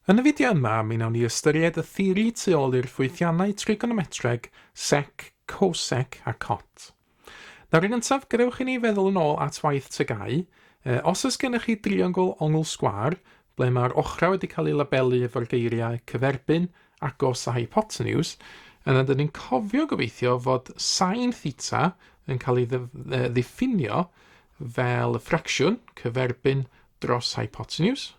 Yn y fideo yma, mi wnawn ni ystyried y theori tu ôl i'r ffwythiannau trigonometreg sec, cosec a cot. Nawr yn gyntaf, gadewch i ni feddwl yn ôl at waith tygau. E, os oes gennych chi driongl ongl sgwar, ble mae'r ochrau wedi cael eu labelu efo'r geiriau cyferbyn, agos a hypotenws, yna dyn ni'n cofio gobeithio fod sain theta yn cael ei ddiffinio fel y ffracsiwn cyferbyn dros hypotenws.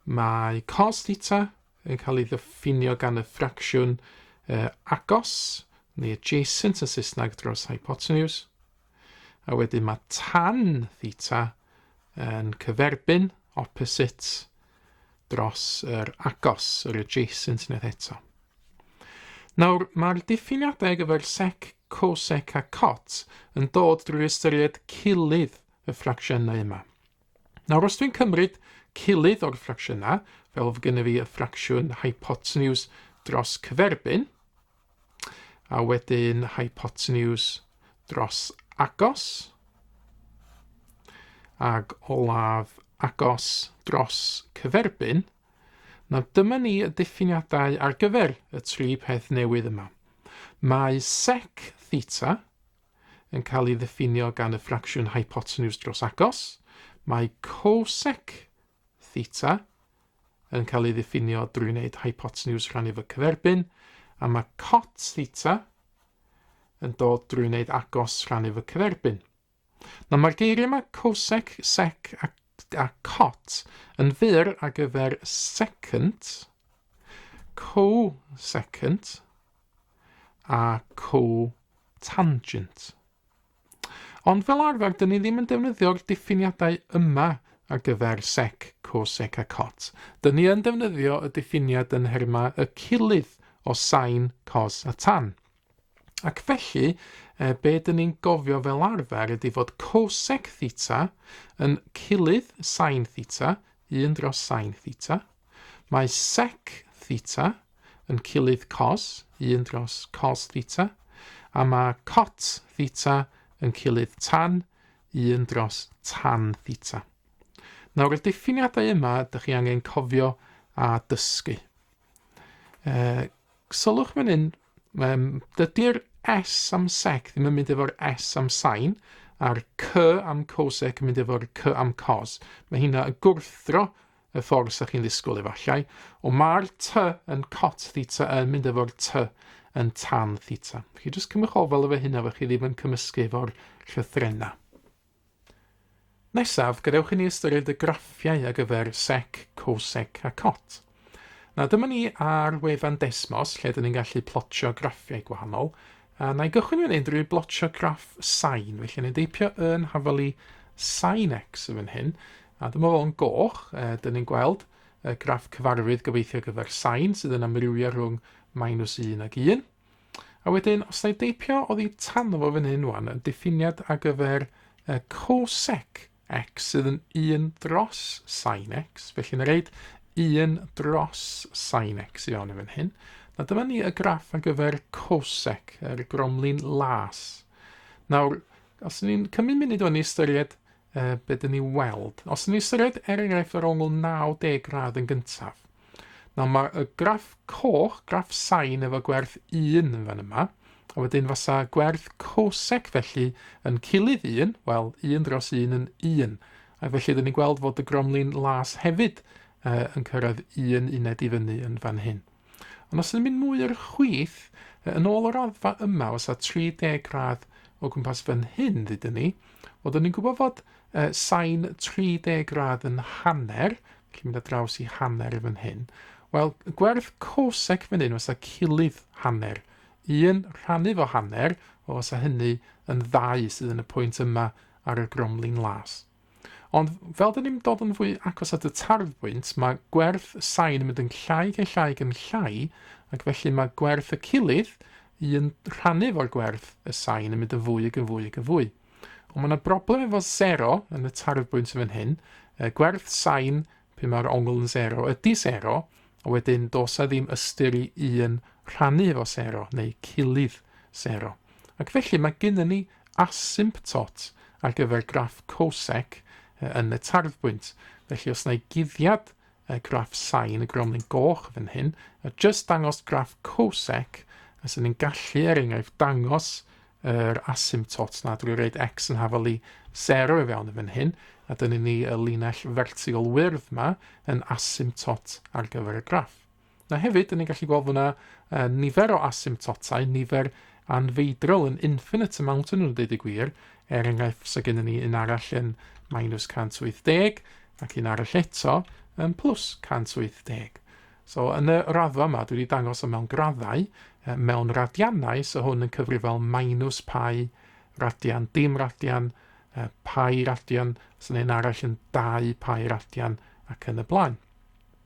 Mae cos theta yn cael ei ddiffinio gan y ffracsiwn uh, agos, neu adjacent yn Saesneg dros hypotenws. A wedyn mae tan theta yn cyferbyn, opposite, dros yr agos, yr adjacent unwaith eto. Nawr, mae'r diffiniadau gyfer sec, cosec a cot yn dod drwy ystyried cilydd y ffracsiynau yma. Nawr, os dwi'n cymryd cilydd o'r ffracsiynau, fel fy gynnu fi y ffracsiwn hypotenuse dros cyferbyn, A wedyn hypotenuse dros agos. Ac olaf agos dros cyferbyn. Na dyma ni y diffiniadau ar gyfer y tri peth newydd yma. Mae sec theta yn cael ei ddiffinio gan y ffracsiwn hypotenuse dros agos. Mae cosec theta yn cael ei ddiffinio drwy wneud hypotenws rhannu fy cyferbyn, a mae cot theta yn dod drwy wneud agos rhannu fy cyferbyn. Nawr mae'r geiriau yma cosec, sec a, a cot yn fyr ar gyfer second, co-second a co-tangent. Ond fel arfer, dyn ni ddim yn defnyddio'r diffiniadau yma ar gyfer sec, cosec a cot. Dyn ni yn defnyddio y diffiniad yn nhermau y cilydd o sain, cos a tan. Ac felly, e, be dyn ni'n gofio fel arfer ydy fod cosec theta yn cilydd sain theta, 1 dros sain theta. Mae sec theta yn cilydd cos 1 dros cos theta, a mae cot theta yn cilydd tan 1 dros tan theta. Nawr, y diffiniadau yma, ydych chi angen cofio a dysgu. E, sylwch fan hyn, um, dydy'r S am sec ddim yn mynd efo'r S am sain, a'r C am cosec yn mynd efo'r C am cos. Mae hynna yn gwrthdro y ffordd sa chi'n ddisgwyl efallai, ond mae'r t yn cot theta yn mynd efo'r t yn tan theta. Chi jyst cymwch ofal efo hynna fe chi ddim yn cymysgu efo'r llythrenau. Nesaf, gadewch i ni ystyried y graffiau ar gyfer sec, cosec a cot. Na, dyma ni ar wefan Desmos lle dyn ni'n gallu plotio graffiau gwahanol. A na i gychwyn fan hyn drwy blotio graff sain. Felly, ni'n deipio yn hafalu sain x yn fan hyn. A dyma fo'n goch, e, dyn ni'n gweld y graff cyfarwydd gobeithio gyfer sain sydd yn amrywio rhwng minus 1 ag 1. A wedyn, os na i deipio oddi tan o fo fan hyn wan, yn diffiniad ar gyfer y cosec X sydd yn 1 dros sin X. Felly yn reid 1 dros sin X i fewn i fan hyn. Na dyma ni y graff ar gyfer cosec, yr gromlin las. Nawr, os ni'n cymryd munud o'n i ystyried uh, beth dyn ni weld, os ni'n ystyried er enghraifft yr ongl 90 gradd yn gyntaf, Nawr mae y graff coch, graff sain efo gwerth 1 yn fan yma, a wedyn fasa gwerth cosec felly yn cilydd 1, wel 1 dros 1 yn 1. Ac felly ydyn ni'n gweld fod y gromlin las hefyd uh, yn cyrraedd un uned i fyny yn fan hyn. Ond os ydym ni'n mwy o'r chwith, yn ôl o'r raddfa yma, os a 30 gradd o gwmpas fan hyn ddydyn ni, oeddwn ni'n gwybod fod uh, sain 30 gradd yn hanner, Cyn mynd ar draws i hanner fan hyn. Wel, gwerth cosec fan hyn, os a cilydd hanner. Un rhannu fo hanner, o os a hynny yn ddau sydd yn y pwynt yma ar y gromlin las. Ond fel dyn ni'n dod yn fwy agos at y tarfbwynt, mae gwerth y sain yn mynd yn llai gan llai gan llai, ac felly mae gwerth y cilydd un rhannu fo'r gwerth y sain yn mynd yn fwy ac yn fwy ac yn fwy. Ond mae yna broblem efo sero yn y tarfbwynt fan hyn, y gwerth sain pe mae'r ongl yn sero ydy sero, a wedyn dos a ddim ystyr i un rhannu efo sero neu cilydd sero. Ac felly mae gennym ni asymptot ar gyfer graff cosec yn y tarfbwynt. Felly os na i guddiad y graff sain y gromlin goch fan hyn, a just dangos graff cosec, a sy'n ni'n gallu er enghraifft dangos yr er asymptot na drwy reid x yn hafal i 0 i fewn fan hyn, a dyna ni y linell fertigol wyrdd yma yn asymptot ar gyfer y graff. A hefyd, dyn ni'n gallu gweld fyna uh, nifer o asymptotau, nifer anfeidrol yn infinite amount yn nhw'n dweud y gwir. Er enghraifft, so gennym ni un arall yn minus 180 ac un arall eto yn plus 180. So yn y raddfa yma, dwi wedi dangos o mewn graddau, uh, mewn radiannau, so hwn yn cyfrifol minus pai radian, dim radian, uh, pai radian, sy'n so un arall yn 2 pai radian ac yn y blaen.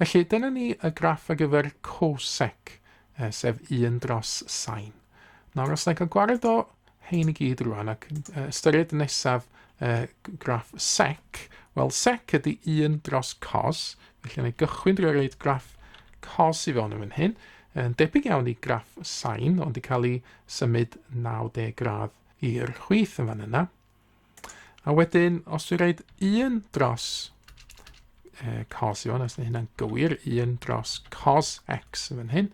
Felly, dyna ni y graff ar gyfer cosec, eh, sef 1 dros sain. Nawr, os na i cael gwared o hein i gyd rwan ac uh, ystyried nesaf uh, graff sec, wel, sec ydy 1 dros cos, felly na i gychwyn drwy reid graff cos i fewn yn fan hyn, yn debyg iawn i graff sain, ond i cael ei symud 90 gradd i'r chwith yn fan yna. A wedyn, os dwi'n rhaid un dros uh, cos i fan, os yna hynna'n gywir, un dros cos x yn fan hyn,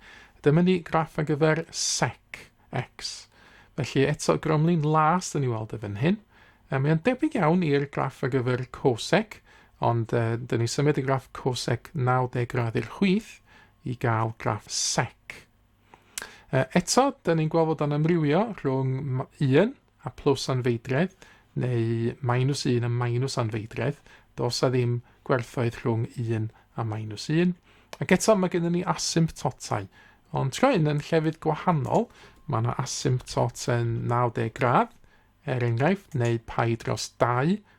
dyma ni graff ar gyfer sec x. Felly eto gromlin las yn ei weld y fan hyn. Um, mae'n debyg iawn i'r graff ar gyfer cosec, ond uh, dyn ni symud y graff cosec 90 gradd i'r chwith i gael graff sec. Uh, eto, dyn ni'n gweld bod o'n amrywio rhwng 1 a plus anfeidredd, neu minus 1 a minus anfeidredd, dos a ddim gwerthoedd rhwng 1 a minus 1. Ac eto mae gennym ni asymptotau, ond tro hyn yn llefydd gwahanol, mae yna asymptot yn 90 gradd, er enghraifft, neu pai dros 2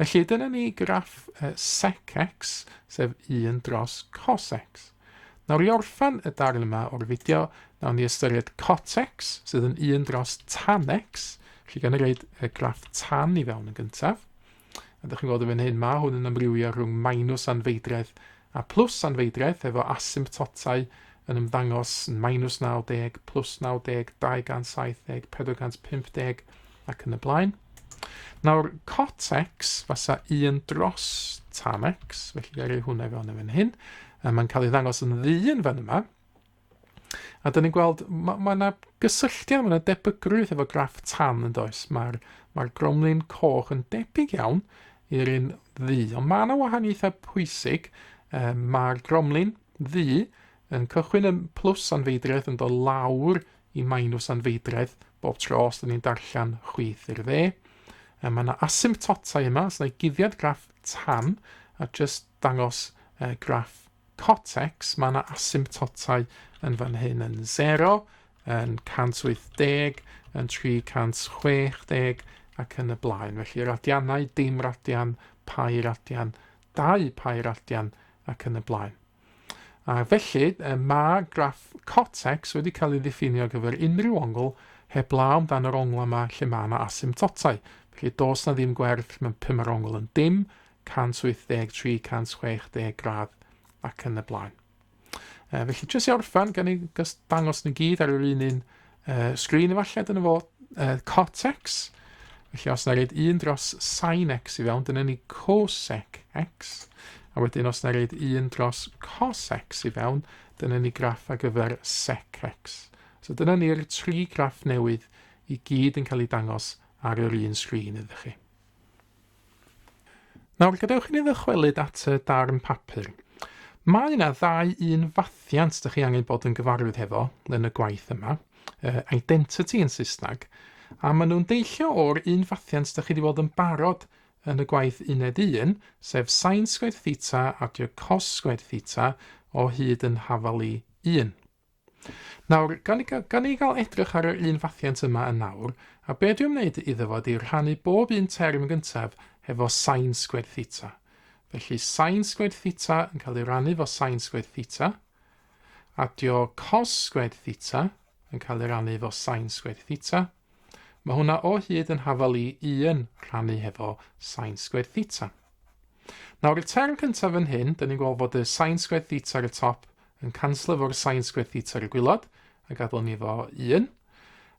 Felly dyna ni graff uh, sec x, sef 1 dros cos x. Nawr i orffan y darn yma o'r fideo, nawn ni ystyried cot x, sydd yn 1 dros tan x. Felly gan reid y graff tan i fewn yn gyntaf. A ydych chi'n gweld y fan hyn, mae hwn yn amrywio rhwng minus anfeidredd a plus anfeidredd, efo asymptotau yn ymddangos yn minus 90, plus 90, 270, 450, ac yn y blaen. Nawr, cot x fasa 1 dros tan x, felly gael ei hwnna fewn yn fan hyn. Mae'n cael ei ddangos yn ddyn fan yma. A dyn ni'n gweld, mae ma yna gysylltiad, mae yna debygrwydd efo graff tan yn does. Mae'r ma gromlin coch yn debyg iawn i'r un ddu. Ond mae yna wahaniaethau pwysig. Um, Mae'r gromlin ddu yn cychwyn yn plws anfeidredd yn dod lawr i minws anfeidredd bob tro os da ni'n darllen chwith i'r dde. E, mae yna asymptotau yma, os yna guddiad graff tan a just dangos e, graff cotex, mae yna asymptotau yn fan hyn yn 0, yn 180, yn 360 ac yn y blaen. Felly radianau, dim radian, pai radian, dau pai radian ac yn y blaen. A felly, mae graff cortex wedi cael ei ddiffinio ar gyfer unrhyw ongl heb law amdano yr ongl yma lle mae yna asymptotau. Felly, dos na ddim gwerth, mae'n pum ar ongl yn dim, 183, 160 gradd ac yn y blaen. E, felly, jyst i orffan, gan i dangos nhw gyd ar yr un un uh, sgrin efallai, dyna fo, uh, cortex. Felly os na reid un dros sin x i fewn, dyna ni cosec x. A wedyn os na reid un dros cos x i fewn, dyna ni graff ar gyfer sec x. So dyna ni'r tri graff newydd i gyd yn cael ei dangos ar yr un sgrin ydych chi. Nawr, gadewch i ni ddychwelyd at y darn papur. Mae yna ddau un fathiant dych chi angen bod yn gyfarwydd hefo yn y gwaith yma, uh, identity yn Saesneg, a maen nhw'n deillio o'r un fathiant dych chi wedi bod yn barod yn y gwaith uned 1, sef sain sgwyd theta adio cos sgwyd theta o hyd yn hafal i 1. Nawr, gan i, gan i gael edrych ar yr un fathiant yma yn nawr, a be dwi'n wneud iddo fo ydy rhannu bob un term gyntaf hefo sain sgwed theta. Felly sain sgwed theta yn cael ei rannu fo sain sgwed theta, a dio cos sgwed theta yn cael ei rannu fo sain sgwed theta, Mae hwnna o hyd yn hafal i un rhannu hefo sain sgwêr theta. Nawr, y term cyntaf yn hyn, dyn ni'n gweld fod y sain sgwêr theta ar y top yn canslo fo'r sain sgwêr theta ar y gwylod, a gadael ni fo un.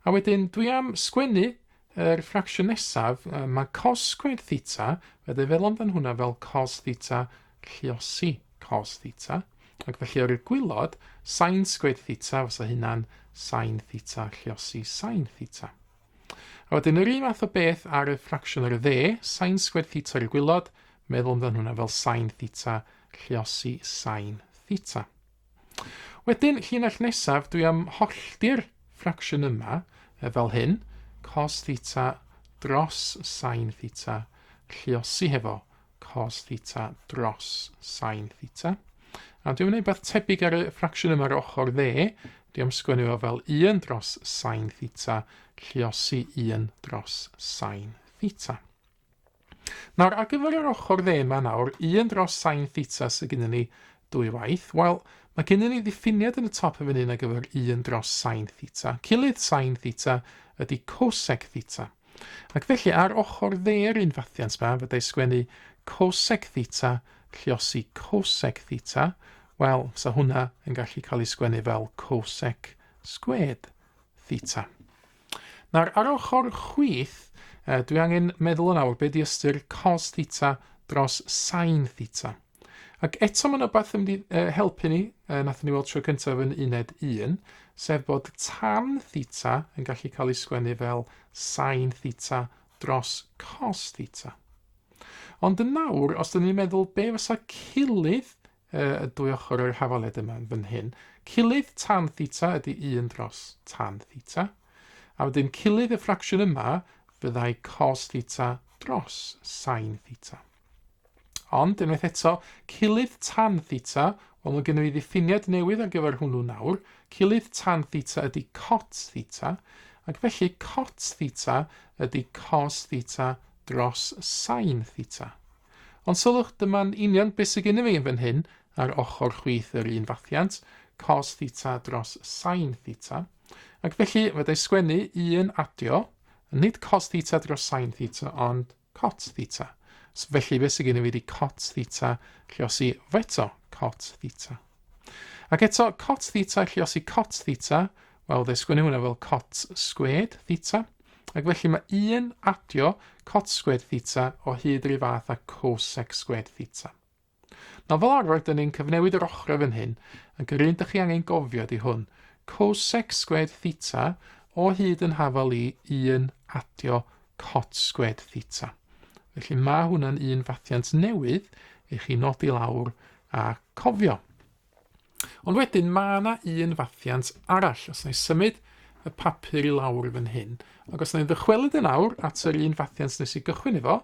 A wedyn, dwi am sgwennu yr er ffracsiwn nesaf, mae cos sgwêr theta, fe ddefelon dan hwnna fel cos theta lluosi cos theta, ac felly o'r i'r gwylod, sain sgwyd theta fysa hynna'n sain theta lluosi sain theta. A wedyn yr un math o beth ar y ffracsiwn ar y dde, sain sgwyd theta ar y gwylod, meddwl amdano hwnna fel sain theta lluosi sain theta. Wedyn, llinell nesaf, dwi am hollti'r ffracsiwn yma e, fel hyn, cos theta dros sain theta, lliosi hefo cos theta dros sain theta. A dwi'n gwneud beth tebyg ar y ffracsiwn yma ar ochr dde. Dwi am sgwennu fo fel 1 dros sain theta, lliosi 1 dros sain theta. Nawr, ar gyfer yr ochr dde yma nawr, 1 dros sain theta sydd gyda ni dwy waith. Wel, mae gennym ni ddiffiniad yn y top yn fan hyn ar gyfer 1 dros sain theta. Cilydd sain theta ydy cosec theta. Ac felly, ar ochr dde'r un fathiant 'ma, fyddai sgwennu cosec theta, lliosi cosec theta, wel, sa hwnna yn gallu cael ei sgwennu fel cosec sgwed theta. Nawr, ar ochr chwith, dwi angen meddwl yn awr beth di ystyr cos theta dros sain theta. Ac eto mae'n rhywbeth yn mynd i helpu ni, uh, nath ni weld tro cyntaf yn uned 1, sef bod tan theta yn gallu cael ei sgwennu fel sain theta dros cos theta. Ond yn nawr, os dyn ni'n meddwl be fysa cilydd uh, y dwy ochr o'r hafaled yma fan hyn, cilydd tan theta ydy 1 dros tan theta, a wedyn cilydd y ffracsiwn yma fyddai cos theta dros sain theta. Ond, unwaith eto, cilydd tan theta, wel mae gennym ni ddiffiniad newydd ar gyfer hwnnw nawr, cilydd tan theta ydy cot theta, ac felly cot theta ydy cos theta dros sain theta. Ond sylwch, dyma'n union beth sydd gennym fi yn fan hyn, ar ochr chwith yr un fathiant, cos theta dros sain theta. Ac felly, fe dau sgwennu un adio, nid cos theta dros sain theta, ond cot theta. So, felly beth sydd gen i fi ydi cot theta lliosi feto cot theta. Ac eto, cot theta lliosi cot theta, wel, fe sgwynnu hwnna fel cot sgwed theta, ac felly mae un adio cot sgwed theta o hyd yr fath a cosec sgwed theta. Na fel arfer dyn ni'n cyfnewid yr ochrau fan hyn, ac yr un dych chi angen gofio di hwn. Cos sec sgwed theta o hyd yn hafal i 1 adio cot sgwed theta. Felly mae hwnna'n un fathiant newydd i chi nodi lawr a cofio. Ond wedyn mae yna un fathiant arall, os na i symud y papur i lawr fan hyn, ac os na i'n ddychwelyd yn awr at yr un fathiant nes i gychwyn efo,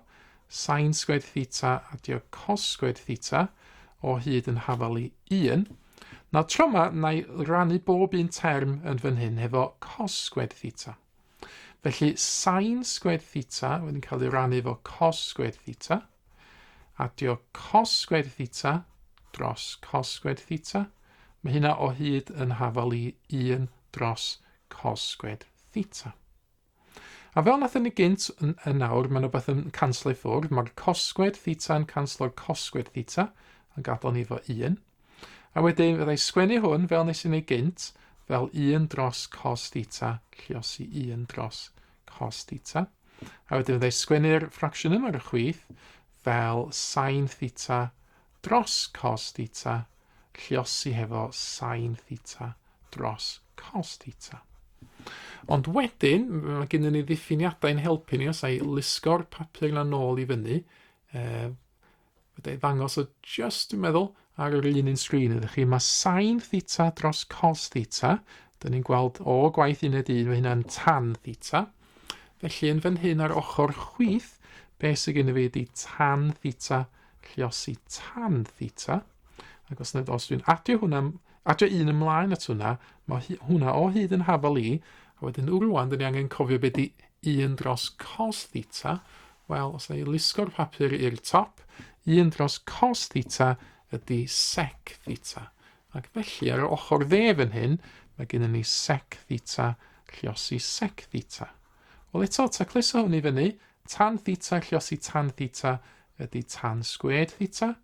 sain sgwed theta adio cos sgwed theta o hyd yn hafal i 1, na tro yma na i rannu bob un term yn fan hyn hefo cos sgwed theta. Felly sain sgwed theta wedyn cael ei rannu efo cos sgwed theta, Adio cos sgwêr theta dros cos sgwêr theta. Mae hynna o hyd yn hafal i 1 dros cos sgwêr theta. A fel nath ni gynt, yn nawr, mae'n rhywbeth yn canslo i ffwrdd. Mae'r cos sgwêr theta yn canslo'r cos sgwêr theta, yn gadael ni fo 1. A wedyn, fyddai sgwennu hwn, fel nes i ni gynt, fel 1 dros cos theta, lliosi 1 dros cos theta. A wedyn fydda i sgwennu'r ffracsiwn yma ar y chwith fel sain theta dros cos theta, lliosi hefo sain theta dros cos theta. Ond wedyn, mae gennym ni ddiffiniadau yn helpu ni os ai lusgo'r papur yna nôl i fyny, e, Fydda i ddangos o just, dwi'n meddwl, ar yr un un sgrin ydych chi. Mae sain theta dros cos theta. Dyna ni'n gweld o gwaith uned 1, mae hynna'n tan theta. Felly yn fan hyn ar ochr chwith, be sy'n gen i fi ydi tan theta lliosi tan theta. Ac os, os dwi'n adio hwnna, adio un ymlaen at hwnna, mae hwnna o hyd yn hafal i, a wedyn rwan, dyn ni angen cofio beth i 1 dros cos theta, Wel, os na i lusgo'r papur i'r top, 1 dros cos theta ydy sec theta. Ac felly, ar yr ochr dde fan hyn, mae gennym ni sec theta lliosi sec theta. Wel eto, tacluso hwn i fyny, tan theta lliosi tan theta ydy tan sgwed theta.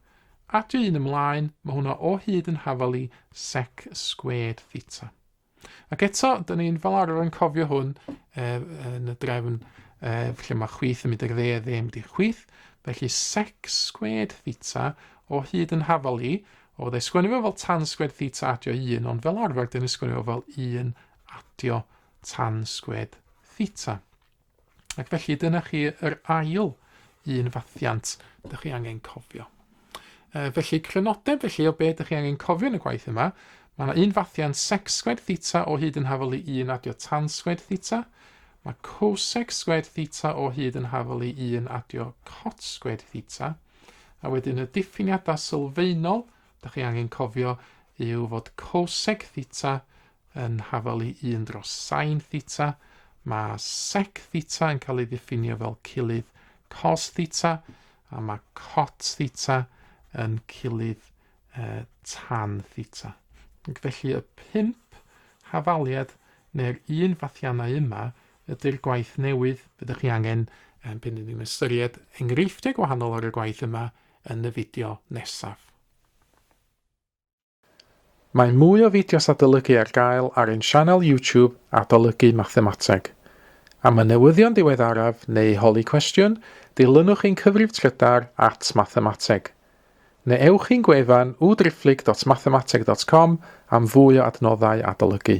Adio un ymlaen, mae hwnna o hyd yn hafal i sec sgwed theta. Ac eto, dyn ni'n fel arfer yn cofio hwn e, yn y drefn e, lle mae chwyth yn mynd i'r dde, dde yn mynd i'r chwyth. Felly sec sgwed theta o hyd yn hafal i, o dde sgwennu fo fel tan sgwed theta adio 1, ond fel arfer dyn ni'n sgwennu fo fel 1 adio tan sgwed theta. Ac felly dyna chi yr ail un fathiant dych chi angen cofio. E, felly crynodeb felly o beth dych chi angen cofio yn y gwaith yma, mae yna un fathiant sec sgwed theta o hyd yn hafol i 1 adio tan sgwed theta, mae cosec sgwed theta o hyd yn hafol i 1 adio cot sgwed theta, a wedyn y diffiniadau sylfaenol dych chi angen cofio yw fod cosec theta yn hafal i 1 dros sain theta, mae sec theta yn cael ei ddiffinio fel cilydd cos theta, a mae cot theta yn cilydd uh, tan theta. Felly y pimp hafaliad neu'r un fathiannau yma ydy'r gwaith newydd fyddwch chi angen um, pan ni'n ystyried enghreifftiau gwahanol ar y gwaith yma yn y fideo nesaf. Mae mwy o fideos adolygu ar gael ar ein sianel YouTube Adolygu Mathemateg. Am y newyddion diweddaraf neu holi cwestiwn, dilynwch ein cyfrif trydar at Mathemateg. Neu ewch i'n gwefan www.driphlyg.mathemateg.com am fwy o adnoddau adolygu.